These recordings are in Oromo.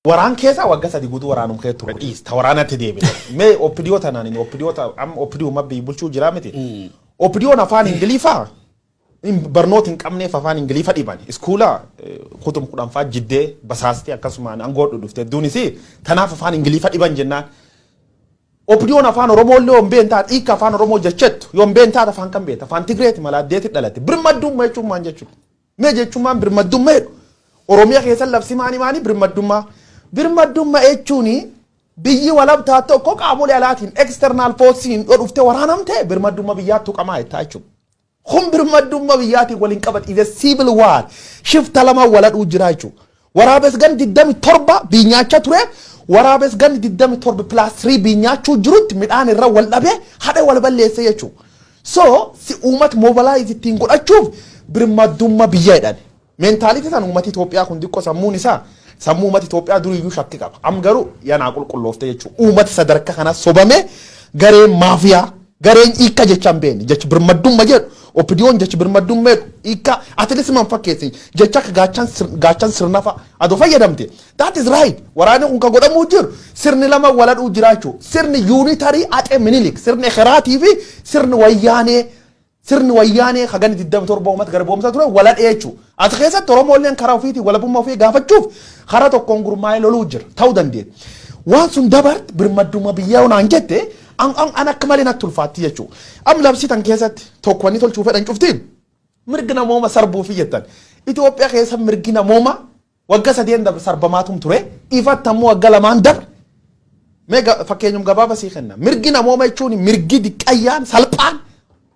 Waraan keesaa wagga sadi gutuu waraanum kee ture dhiis ta waraanatti deebine mee opidiyoo tanaan inni opidiyoo ta amma opidiyoo mabbii bulchuu jiraa miti opidiyoon afaan ingiliifaa hin- barnoota hin qabneef afaan ingiliifa dhiban iskuula eh, kutum kudhanfaa jiddee basaastee akkasumaan angoodhu dhufte duunis tanaaf afaan ingiliifa dhiban jennaan opidiyoon afaan oromoo illee yoon been taate hiika afaan oromoo jechettu yoon been taate afaan kan beekta afaan tigreeti mala addeeti dhalate birmadduumma jechuun maal jechuudha Mee jechummaan birmaddumma jedhu Oromiya keessan labsi maani maani birmaddumma birmaddumma jechuuni biyyi walab taat tokko qaamole alaatiin external forcing dho dhufte waraanamte birmaddumma biyyaa tuqamaa jettaa jechuudha. Kun birmaddumma biyyaatiin wal hin qabat is a civil war shifta lama waladhuu jira jechuudha. Waraabes ganni 27 biinyaachaa ture. Waraabes ganni 27 plus 3 biinyaachuu jirutti midhaan irra wal dhabee hadhe wal balleesse jechuu. So si uumat mobilize ittiin godhachuuf birmaddumma biyya jedhani. Mentality san uumat Itoophiyaa kun diqqo sammuun isaa sammuu uumat Itoophiyaa duriyyuu shakki qaba. Am garuu ya naa qulqulloofte jechuu. Uumat sadarka kana sobamee gareen maafiyaa Gareen hiikka jechaa hin beekne jechi birmaddumma jedhu OPDOn jechi birmaddumma jedhu hiikka atilis man fakkeesse jecha akka gaachan sir- gaachan sirnafa adoo fayyadamte that is right waraanni kun kan godhamuu jiru sirni lama waladhuu jiraachuu sirni yuunitarii axee minilik sirni ekeraatii fi sirni wayyaanee sirni wayyaanee hagani 27 uummata garboomsaa ture waladhee jechuudha. As keessatti Oromoolleen karaa ofiitiin walabummaa ofii gaafachuuf karaa tokkoon gurmaa'ee loluu jira. Ta'uu dandeenya. Waan sun dabarte birmaddummaa biyyaa yoo naan jette an an an akka malee natti ulfaatti jechuudha. Am labsii tan keessatti tokko wanni tolchuu fedhan cuftiin mirgi namooma sarbuufi jettan. Itoophiyaa keessa mirgi namooma Wagga sadeen dabre sarbamaatum ture, ifatti ammoo wagga lamaan dabre Mee ga- fakkeenyum gabaaba sii kenna. Mirgi namooma jechuun mirgi diqqayyaan salphaan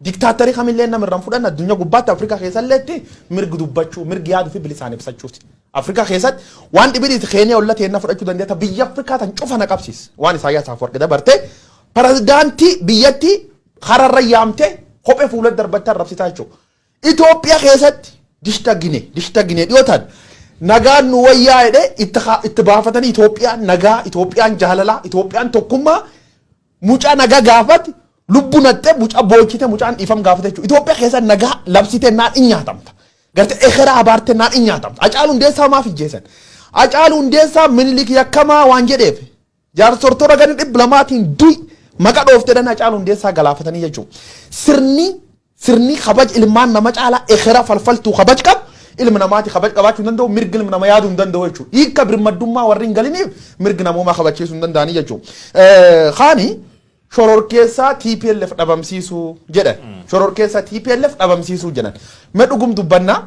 diktaattarii kamillee nama irraan fudhan addunyaa gubbaatti Afrikaa keessalleetti mirgi dubbachuu mirgi yaaduu fi bilisaan ibsachuuti. Afrikaa keessatti waan dhibiidhiiti keenee olla teenna fudhachuu dandeetta biyya Afrikaa tan cufa na qabsiis waan Isaayyaas Afwarqi dabartee pirezidaantii biyyattii hararra yaamtee kophee fuula darbattee arrabsitaa jechuudha. Itoophiya keessatti dishta gine dishta gine dhiyootan nagaan nu wayyaa jedhe itti ha- itti baafatanii Itoophiyaan nagaa Itoophiyaan jaalalaa Itoophiyaan tokkummaa mucaa nagaa gaafate lubbu naxxe mucaa boochite mucaan dhiifam gaafate jechuudha Itoophiya keessa nagaa labsite naan in nyaatamta garte ekeraa abaarte naan in nyaatamta Hacaaluu Hundeessaa maaf ijjeesan Hacaaluu Hundeessaa minilik yakkamaa waan jedheef Jaarsortoota ganda 200tiin du'i maqa dhoofteedhan Hacaaluu Hundeessaa galaafatanii jechuu. Sirni sirni kabaj ilmaan nama caalaa ekera falfaltuu kabaj qabu ilmi namaati kabaj qabaachuu hin danda'u mirgi ilmi nama yaaduu hin danda'u jechuu. Hiikka birmaddummaa warri hin galiniif mirgi namoomaa kabachiisuu hin danda'anii jechuu. Kaani shororkeessaa TPLF dhabamsiisuu jedhan. Shororkeessaa TPLF dhabamsiisuu jedhan. Mee dhugum dubbannaa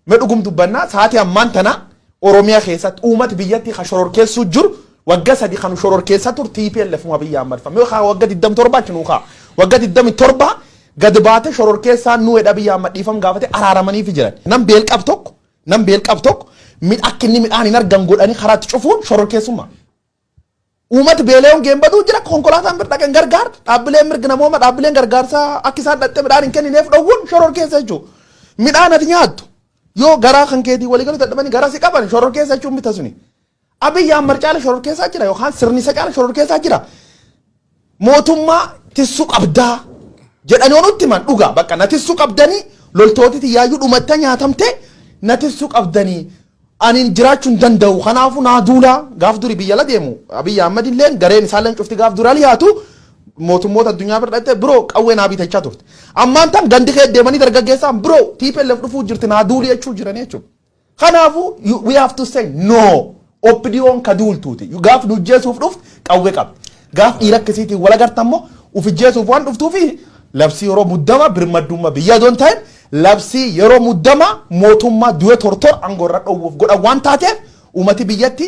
Me dhugum dubbanna saati ammaan tana Oromiyaa keessatti uumat biyyatti ka shororkeessuu jiru wagga sadi kanu shororkeessa tur TPLF mu Abiy Ahmad fa. Me ka wagga 27 achi nuu ka. Wagga 27 gad baate shororkeessaa nu edha Abiy Ahmad dhiifam gaafate araaramaniifi jiran. Nam beel qab tokko nam beel qab tokko mid akka inni midhaan hin argan godhanii karaatti cufuun shororkeessummaa. Uumati beela'ee hongeen baduu jira. Konkolaataan bir dhaqe hin gargaarre. Dhaabbileen mirga namooma dhaabbileen gargaarsaa akka isaan dhaqxe midhaan hin kennineef dhowwuun shororkeessa jechuudha. Midhaan ati nyaattu yoo garaa kan keetii waliigaluu dadhabanii garaa si qaban shororkeessa jechuun mita suni. Abiyyi Ahmad caala shororkeessaa jira yookaan sirni isa caala shororkeessaa jira. Mootummaa tissu qabdaa jedhani yoo nutti himan dhugaa bakka na tissu qabdani loltooti tiyyaayyuu dhumatta nyaatamte na tissu qabdani anin jiraachu hin danda'u kanaafu naa duula gaaf duri biyya la deemu Abiy Ahmed illeen gareen isaalleen cufti gaaf duri aliyaatu mootummoota addunyaa bira dhatte bro qawwee naa bitachaa turte ammaan tan gandi kee deemanii dargaggeessaan bro TPLF dhufuu jirti naa duuli jechuu jirani jechuudha. Kanaafuu you- we have to say no. OPDOn ka duultuuti. Gaaf nu ijjeesuuf dhuftu qawwee qabdi. Gaaf dhiira akkasiitiin wal agartan immoo uf ijjeesuuf waan dhuftuufi labsii yeroo muddamaa birmaddummaa biyyaa doon ta'in labsii yeroo muddamaa mootummaa du'e tortor aangoo irra dhowwuuf godhan waan taateef uummati biyyatti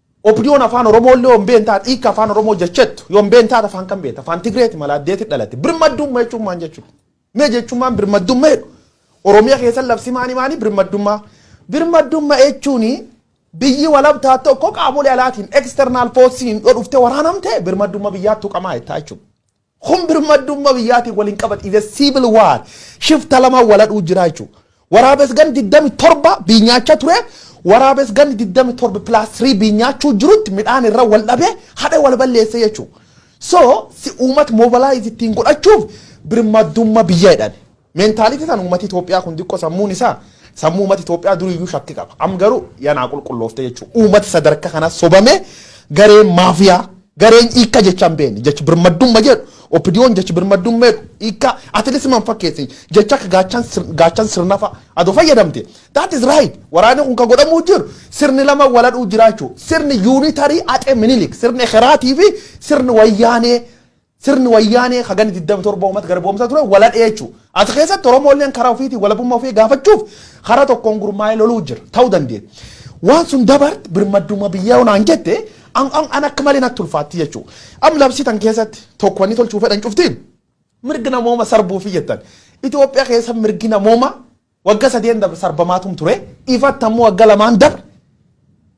Opdon afaan oromoo illee yoo hin beekne taate hiikka afaan oromoo jechettu yoo hin beekne taate afaan kam beekta afaan tigreeti mala addeeti dhalatte birmaddumma jechuun maan jechuudha mee jechummaan birmaddumma jedhu oromiya keessa labsi maani maani birmaddummaa birmaddumma jechuun biyyi walabtaa tokko qaamolee alaatiin external force hin dhodhufte waraanamte birmaddumma biyyaattu qamaa jettaa jechuudha Kun birmaddumma biyyaatiin wal hin qabat is a civil war shifta lama wal hadhuu jiraa jechuu waraabes ganni 27 biinyaacha ture waraabes ganni 27 plus 3 biinyaachuu jirutti midhaan irra wal dhabe hadhe wal balleesse jechuu so si uumat mobilize ittiin godhachuuf birmaddumma biyya jedhame. Mentality tan uumati Itoophiyaa kun diqqo sammuun isaa sammuu uumati Itoophiyaa durii iyyuu shakki qaba. Am garuu yanaa qulqulloofte jechuu uumati sadarka kana sobame gareen maafiyaa gareen hiikka jecha hin beekne jechi birmaddumma jedhu OPDOn jechi birmaddumma jedhu hiikka at least man fakkeessi jecha akka gaachan sir- gaachan sirnafa adoo fayyadamte that is right waraanni kun ka godhamuu jiru sirni lama waladhuu jiraachuu sirni unitary axe minilik sirni ekeraatii fi sirni wayyaanee Sirni wayyaanee ka ganni 27 uummata garboomsaa ture wal hadhee jechuu. As keessatti Oromoolleen karaa ofiitiin walabummaa ofii gaafachuuf karaa tokkoon gurmaa'ee loluu jira. Ta'uu dandeenya. Waan sun dabarte birmadduummaa biyyaa yoo naan jette an, an, an akka malee natti ulfaatti jechuu. Am labsii tan keessatti tokko wanni tolchuu fedhan cufti mirga namooma sarbuufi jettan. Itoophiyaa keessa mirgi namooma Wagga sadeen dabre sarbamaatuum ture, ifatti ammoo wagga lamaan dabre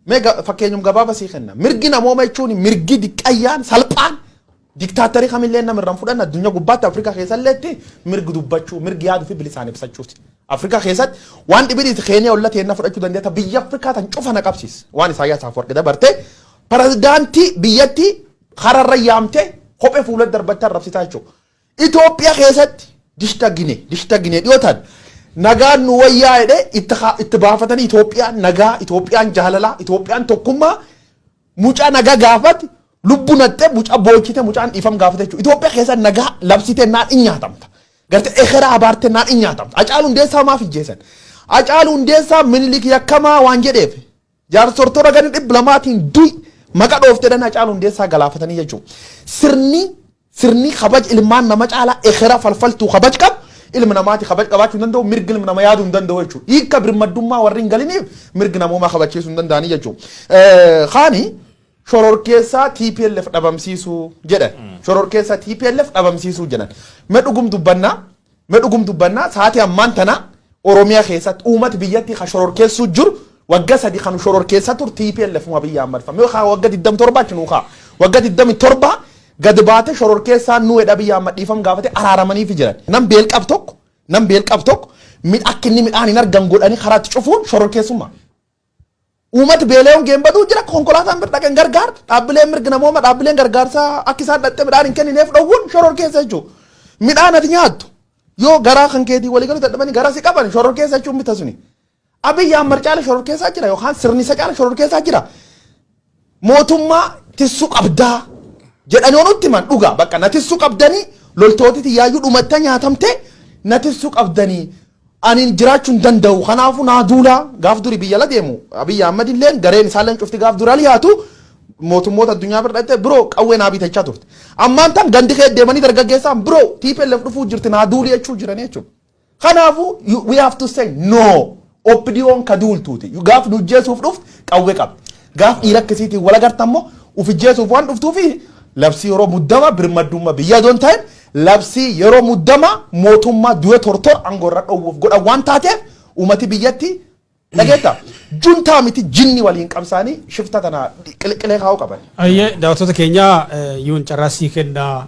mee ga- fakkeenyum gabaaba sii kenna. Mirgi namooma jechuun mirgi diqqayyaan salphaan diktaattarii kamillee nama irraan fudhan addunyaa gubbaatti Afrikaa keessalleetti mirgi dubbachuu, mirgi yaaduu fi bilisaan ibsachuuti. Afrikaa keessatti waan dhibiidhiiti Keeniyaa olla teenna fudhachuu dandeetta biyya Afrikaa tan cufa na qabsiis. Waan Isaayyaas Afwarqi dabarte pirezidaantii biyyattii hararra yaamtee kophee fuula darbattee arrabsitaa jechuudha. Itoophiya keessatti dishta gine dishta gine dhiyootan nagaan nu wayyaa jedhe itti haa- itti baafatanii Itoophiyaan nagaa Itoophiyaan jaalalaa Itoophiyaan tokkummaa mucaa nagaa gaafate lubbu naxxe mucaa boochite mucaan dhiifam gaafate jechuudha Itoophiya keessa nagaa labsite naan in nyaatamta garte ekeraa abaarte naan in nyaatamta Hacaaluu Hundeessaa maaf ijjeesan Hacaaluu Hundeessaa minilik yakkamaa waan jedheef Jaarsortoota ganda 200tiin du'i maqa dhoofteedhan Hacaaluu Hundeessaa galaafatanii jechuu. Sirni sirni kabaj ilmaan nama caalaa ekera falfaltuu kabaj qabu ilmi namaati kabaj qabaachuu hin danda'u mirgi ilmi nama yaaduu hin danda'u jechuu. Hiika birmaddummaa warri hin galiniif mirgi namoomaa kabachiisuu hin danda'anii jechuu. Kaani shororkeessaa TPLF dhabamsiisuu jedhan. Shororkeessaa TPLF dhabamsiisuu jedhan. Mee dhugum dubbannaa Me dhugum dubbanna saati ammaan tana Oromiyaa keessatti uumati biyyatti ka shororkeessuu jiru wagga sadi kanu shororkeessa tur TPLF uma biyya Ahmad fa. Me ka wagga 27 achi nuu ka. Wagga 27 gad baate shororkeessaa nu edha biyya Ahmad dhiifam gaafate araaramaniifi jiran. Nam beel qab tokko nam beel qab tokko mid akka inni midhaan hin argan godhanii karaatti cufuun shororkeessummaa. Uumat beelee hongeen baduu jira konkolaataan bir dhaqen gargaar dhaabbileen mirgi namooma dhaabbileen gargaarsaa akka isaan dhaqxe midhaan hin kennineef dhowwuun shoror keessa jechuu midhaan ati nyaattu yoo garaa kan keetii walii galuu dadhabanii garaa si qaban shoror keessa jechuun bita suni. Abiyyi Ahmad caala shoror keessaa jira yookaan sirni isa caala shoror keessaa jira. Mootummaa tissu qabdaa jedhani yoo nutti himan dhuga bakka na tissu qabdani loltooti tiyyaayyuu dhumatta nyaatamte na tissu qabdani anin jiraachu hin danda'u kanaafu naa duula gaaf duri biyya la deemu Abiy Ahmed illeen gareen isaalleen cufti gaaf duri al yaatu mootummoota addunyaa bira dhatte bro qawwee naa bitachaa turte ammaan tan gandi kee deemanii dargaggeessaan bro TPLF dhufuu jirti naa duuli jechuu jirani jechuudha. Kanaafuu you- we have to say no. OPDOn ka duultuuti. Gaaf nu ijjeesuuf dhuftu qawwee qabdi. Gaaf dhiira akkasiitiin wal agartan immoo uf ijjeesuuf waan dhuftuufi labsii yeroo muddama birmaddummaa biyya doon ta'in labsii yeroo muddama mootummaa du'e tortor aangoorra dhoowwuuf godhan waan taateef uummati biyyatti dhageetta. Juntaa miti jinni waliin qabsaanii shifta tana qiliqilee kaa'uu qaban. Ayyee daawwattoota keenyaa yuun carraa sii kennaa.